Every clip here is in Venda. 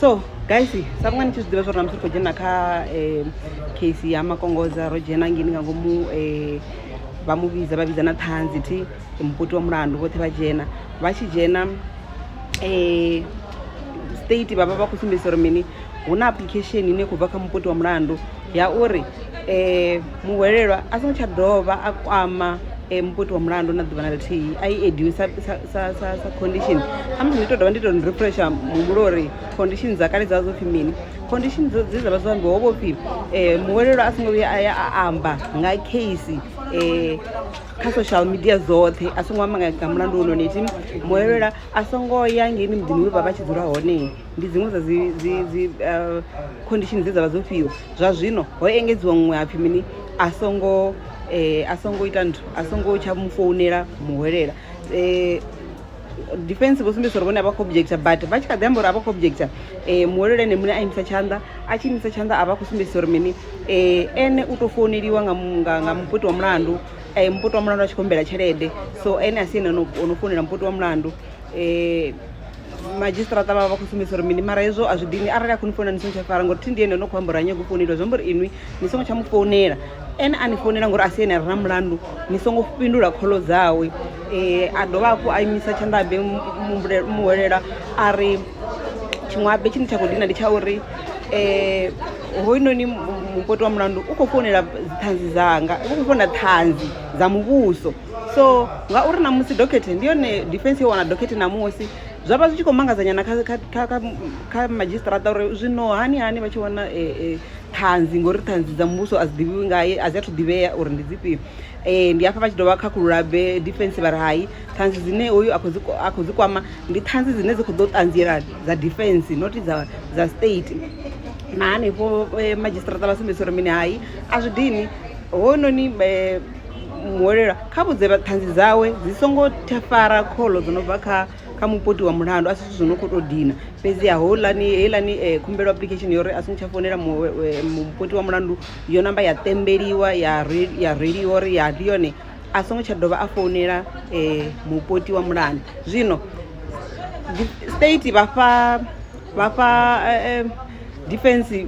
so guys sangani tshi zwiḓivha zwori namusi ri khou dzhena kha um case ya makongoza ro dzhena ngini nga ngomu um vha mu vhidza vha vhidza na ṱhanzi thi mupoti wa mulandu vhoṱhe vha dzhena vha tshi dzhena um state vhavha vha khou sumbedzisa uri mini hu na application ine khou bva kha mupoti wa mulandu ya uri um muhwelelwa a songo tsha dovha a kwama um muputi wa mulandu na ḓuvha na ḽithihi a i ediwe sa condition khamusi ndi to dovha ndi to refresha muhumbulo uri condition dza kale dza zwopfhi mini condition dze dza vha zwo ambiwa ho vhopfhi um muhwelelwa a songo vhuya a ya a amba nga case um kha social media dzoṱhe a songo amba nga mulandu wononiti muhwelelwa a songo ya ngeini muḓini we vha vha tshi dzula hone ndi dziṅwe dza dzi dzi dzi uh, condition dze dzavha dzo fhiwa zwa zwino ho engedziwa muṅwe hapfi mini a songo eh, a songo ita nthu a songo tsha mu founela muhwelela eh, defense vho sumbedzisa uri vhone a vha khou objecta but vha tshi kha ḓi amba uri a vha khou objecta um muhwelelo ene muṋe a imisa tshanḓa a tshi imisa tshanḓa a vha khou sumbedzisa uri mini um ene u tou founeliwa nga muputi wa mulandu um muputi wa mulandu a tshi khou humbela tshelede so ene a si ene o no founela muputi wa mulandu um madzhisiṱiraṱa vha vha vha khou sumbedzisa uri mini mara hezwo a zwi dini arali a khou ni founela ni songo tsha fara ngori thi ndi ene no khou amba uri a nyago u founeliwa zwi amba uri inwi ni songo tsha mu founela ene a ni founela ngori a si ene a re na mulandu ni songo fhindula kholo dzawe um a dovha hafhu a imisa tshanḓa habe muhwelela a ri tshiṅwe habe tshine tsha khou dina ndi tsha uri um hoyunoni mupoti wa mulandu u khou founela dziṱhanzi dzanga u khou founela ṱhanzi dza muvhuso so ngauri namusi dokhethe ndi yone defense yo wana dokhethe namusi zwa vha zwi tshi khou mangazanyana kha madzhisiṱaraṱa uri zwino hani hani vha tshi wana e, e, ṱhanzi ngori ṱhanzi dza muvhuso a dzi ḓivhiwi ngaye a dzi athu ḓivhea uri ndi dzifhio um ndi hafha vha tshi dovha khakhulula be defense vha ri hai ṱhanzi dzine hoyu a khou dzi kwama ndi ṱhanzi dzine dzi khou ḓo ṱanziela dza defense noti dza dza state na hanefho eh, madzhisiṱaraṱa vha sumbedzisa uri mini hai a zwi dini hononi eh, muhwelelwa kha vhudze ṱhanzi dzawe dzi songo fara kholo dzo no bva kha kha mupoti wa mulandu a si zwithu zwo no khou tou dina fhedziha houḽani heiḽani um khumbelo application ya uri a songo tsha founela mupoti wa mulandu yo namba ya ṱembeliwa ya ya reiwa uri ya ndi yone a songo tsha dovha a founela um mupoti wa mulandu zwino state vhafha vhafha defence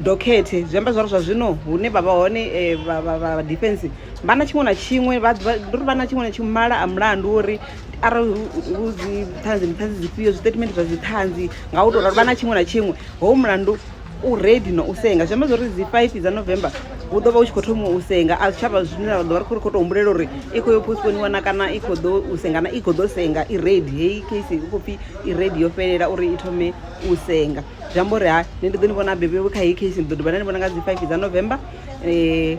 dokhethe zwi amba zwari zwa zwino hune vha vha hone eh, vha- vha vha- vha defense vha na tshiṅwe na tshiṅwe vha vha- ndi uri vha na tshiṅwe na tshiṅwe mala a mulandu uri arali hu- hu dzi ṱhanzi ndi ṱhanzi dzifhio zwitatimende zwa dziṱhanzi nga u tou ralo vha na tshiṅwe na tshiṅwe ho mulandu u redi na u senga zwi amba zwori dzi five dza november hu ḓo vha hu tshi khou thoma u senga a zwitshavha zwine ra ḓo vha ri khou ri khou tou humbulela uri i khou yo postponiwa na kana i khou ḓo u senga na i khou ḓo senga i redi heyi case hu khou pfhi i redi yo fhelela uri i thome u senga zwi amba uri hai nṋe ndi ḓo ni vhona bebe vho kha heyi case ni ḓo dovha na ni vhona nga dzi five dza november um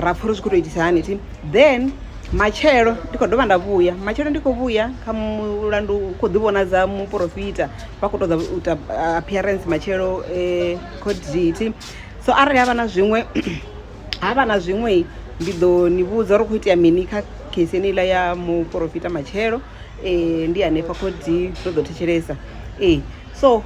ra pfha uri zwi khou tou itisa hani thi then matshelo ndi khou dovha nda vhuya matshelo ndi khou vhuya kha mulandu u khou ḓi vhonadza muporofita vha khou tou ḓa u ita appearance matshelo um court date so arali havha na zwiṅwe havha na zwiṅwe ndi ḓo ni vhudza uri khou itea mini kha case eneiḽa ya muporofita matshelo um ndi hanefha khodi ro ḓo thetshelesa ee so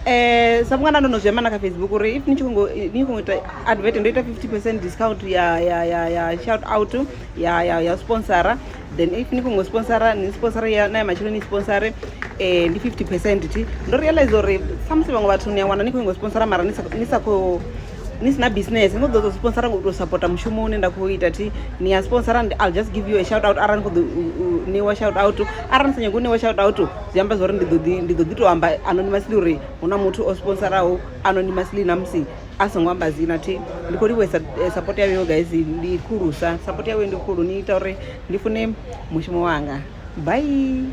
um sa vhunga nda ndo no zwi amba na kha facebook uri if ni tshi khongo ni khongo ita advert ndo ita fifty percent discount ya ya ya ya shout out ya ya ya sponsora then if ni khongo sponsora ni sponsora ya na ya matshelo ni sponsore um ndi fifty percent thi ndo realize uri samusi vhaṅwe vhathu ni a wana ni khongo sponsora mara ni sa ni sa khou ni sina business ni khou ḓo sponsora ngo tou supporta mushumo une nda khou ita thi ni ya sponsora i'll just give you a shout out arali ni khou ḓo ṋewa shout out arali ni sa nyagi u ṋewa shout out zwi amba zwori ndi ḓo ḓi ndi ḓo ḓi to amba anonymously uri hu na muthu o sponsaraho anonymously na musi a songo amba dzina thi ndi khou livhuhesa eh, support yawe yo guys ndi khulusa support yawe ndi khulu ni ita uri ndi fune mushumo wanga bye